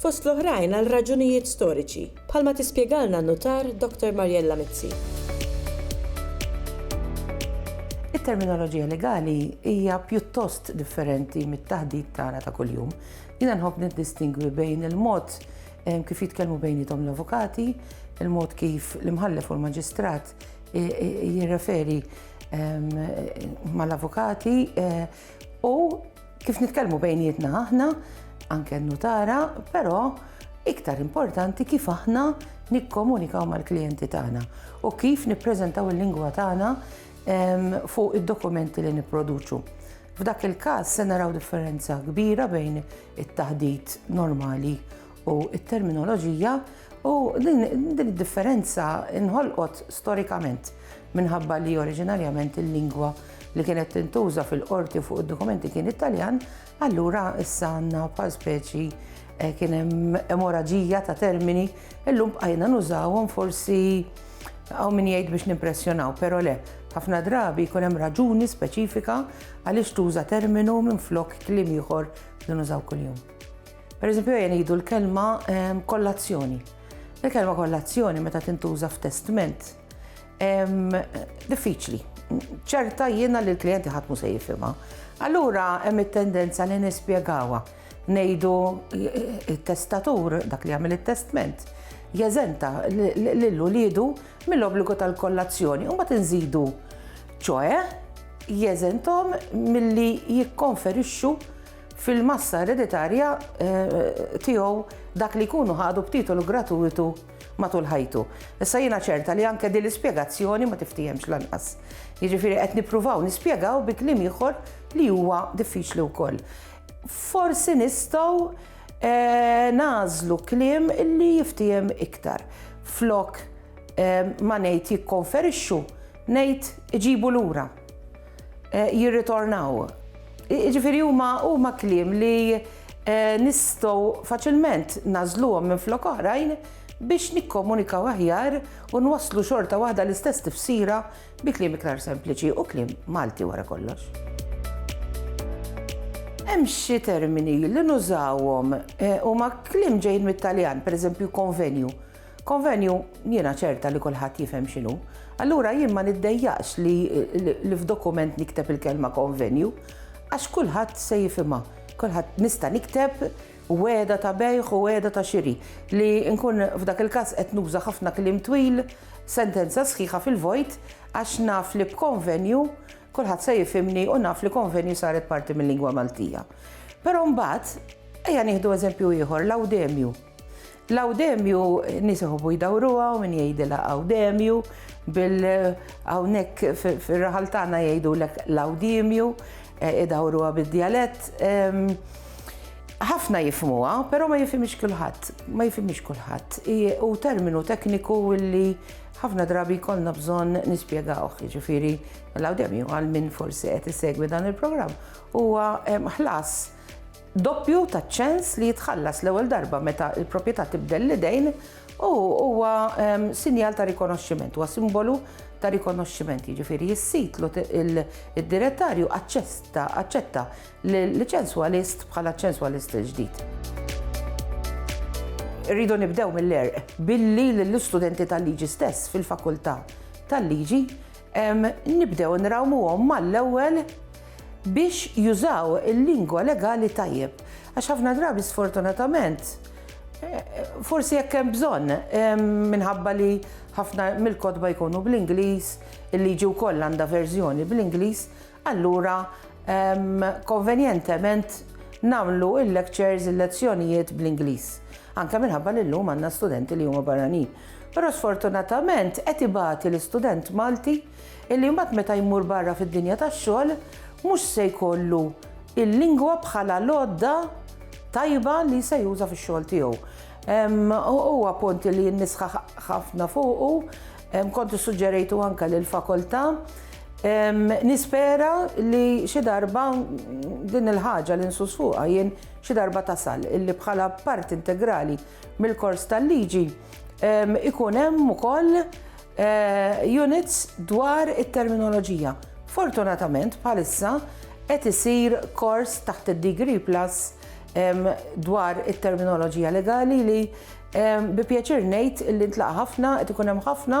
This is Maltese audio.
fost l-oħrajn għal raġunijiet storiċi, bħalma tispjegalna n-Nutar Dr. Mariella Mizzi. It-terminoloġija legali hija pjuttost differenti mit-taħdit tagħna ta' kuljum. Jiena nħobb niddistingwi bejn il-mod eh, kif jitkellmu bejnietom l-avukati, il-mod kif l-imħallef u l-maġistrat eh, eh, jirreferi ehm, mal-avukati u Kif nitkellmu bejnietna aħna, anke n-nutara, però iktar importanti kif aħna nikkomunikaw mal-klijenti tagħna u kif nippreżentaw il-lingwa tagħna ehm, fuq id-dokumenti li nipproduċu. F'dak il-każ se naraw differenza kbira bejn it-taħdit normali u t-terminoloġija u din id-differenza inħolqot storikament minħabba li oriġinarjament il-lingwa li kienet tintuża fil-qorti fuq id-dokumenti kien Italjan, allura issa għandna pa speċi eh, kien hemm emoraġija ta' termini illum bqajna nużawhom forsi għaw min jgħid biex nimpressjonaw, pero le, ħafna drabi jkun hemm raġuni speċifika għaliex tuża terminu minn flok klim ieħor li nużaw kuljum. Pereżempju ejja ngħidu l-kelma ehm, kollazzjoni. Il-kelma kollazzjoni meta tintuża f'testment ehm, diffiċli. ċerta jiena li l-klijenti ħatmu se jifhimha. Allura hemm it-tendenza li nispjegawha ngħidu it-testatur dak li jagħmel it-testment jeżenta lil uliedu mill-obbligu tal-kollazzjoni u ma tinżidu ċoe jeżentom milli jikkonferixxu fil-massa ereditarja tiegħu dak li jkunu ħadu b'titolu gratuitu matul ħajtu. Issa jiena ċerta li anke din l-ispjegazzjoni ma tiftihemx lanqas. Jiġifieri qed nippruvaw nispjegaw bi kliem ieħor li huwa diffiċli wkoll. Forsi nistgħu nagħżlu kliem li jiftihem iktar. Flok ma ngħid jikkonferixxu, ngħid iġibu lura. eh, jirritornaw. Ġifiri huma huma kliem li eh, nistgħu faċilment nażluhom minn flok oħrajn biex nikkomunikaw aħjar u nwasslu xorta waħda l-istess tifsira bi kliem iktar sempliċi u kliem Malti wara kollox. Hemm xi termini li nużawhom eh, huma kliem ġejn mit-Taljan, pereżempju konvenju. Konvenju, jiena ċerta li kulħadd jifhem x'inhu. Allura jien ma niddejjaqx li li f'dokument nikteb il-kelma konvenju għax kulħadd se jifhimha. Kulħadd nista' nikteb wegħda ta' bejgħ u wegħda ta' xiri li nkun f'dak il-każ qed nuża ħafna kliem twil, sentenza sħiħa fil-vojt għax naf li b'konvenju kulħadd se jifhimni u naf li konvenju saret parti mil-lingwa Maltija. Però mbagħad ejja nieħdu eżempju ieħor, lawdemju. L-Għawdemju, nies iħobbu jdawruha u min jgħidilha Għawdemju, bil hawnhekk fir-raħal tagħna jgħidulek l-Għawdiemju, idawruha bid-djalett. Ħafna jifhmuha, però ma jifhimhiex kulħadd, ma jifhimhiex kulħadd. Hu terminu tekniku li ħafna drabi jkollna bżonn nispjegawh, jiġifieri l-Għawdemju għal min forsi qed isegwi dan il-programm huwa ħlas doppju taċ-ċens li jitħallas l-ewwel darba meta l-proprjetà tibdel l-idejn u huwa sinjal ta' rikonoxximent, huwa simbolu ta' rikonoxximent, jiġifieri jissit id-direttarju aċċetta l-ċenswalist bħala ċenswalist il-ġdid. Irridu nibdew mill-għerq billi lill-istudenti tal-liġi stess fil-fakultà tal-liġi nibdew nrawmuhom mal-ewwel biex jużaw il-lingwa legali tajjeb għax ħafna drabi sfortunatament forsi jekk hemm bżonn minħabba li ħafna mill-kotba jkunu bl-Ingliż, il-liġi wkoll għandha verżjoni bl-Ingliż, allura konvenjentement nagħmlu il-lectures, il-lezzjonijiet bl-Ingliż. Anke minħabba li llum għandna studenti li huma barranin. Però sfortunatament qed ibati l-istudent Malti illi mbagħad meta jmur barra fid-dinja tax-xogħol mhux se jkollu l-lingwa bħala l-għodda tajba li se juża fix-xogħol tiegħu. Huwa punt li nisħaq ħafna fuqu, kont issuġġerejtu anke lil fakultà. Nispera li xi darba din il-ħaġa li nsus fuqha jien xi darba tasal illi bħala parti integrali mill-kors tal-liġi ikun hemm ukoll eh, units dwar it-terminoloġija. Fortunatament bħalissa qed isir kors taħt id-Degree Plus dwar it-terminoloġija legali li bi pjaċir ngħid li ntlaqa' ħafna qed ikun hemm ħafna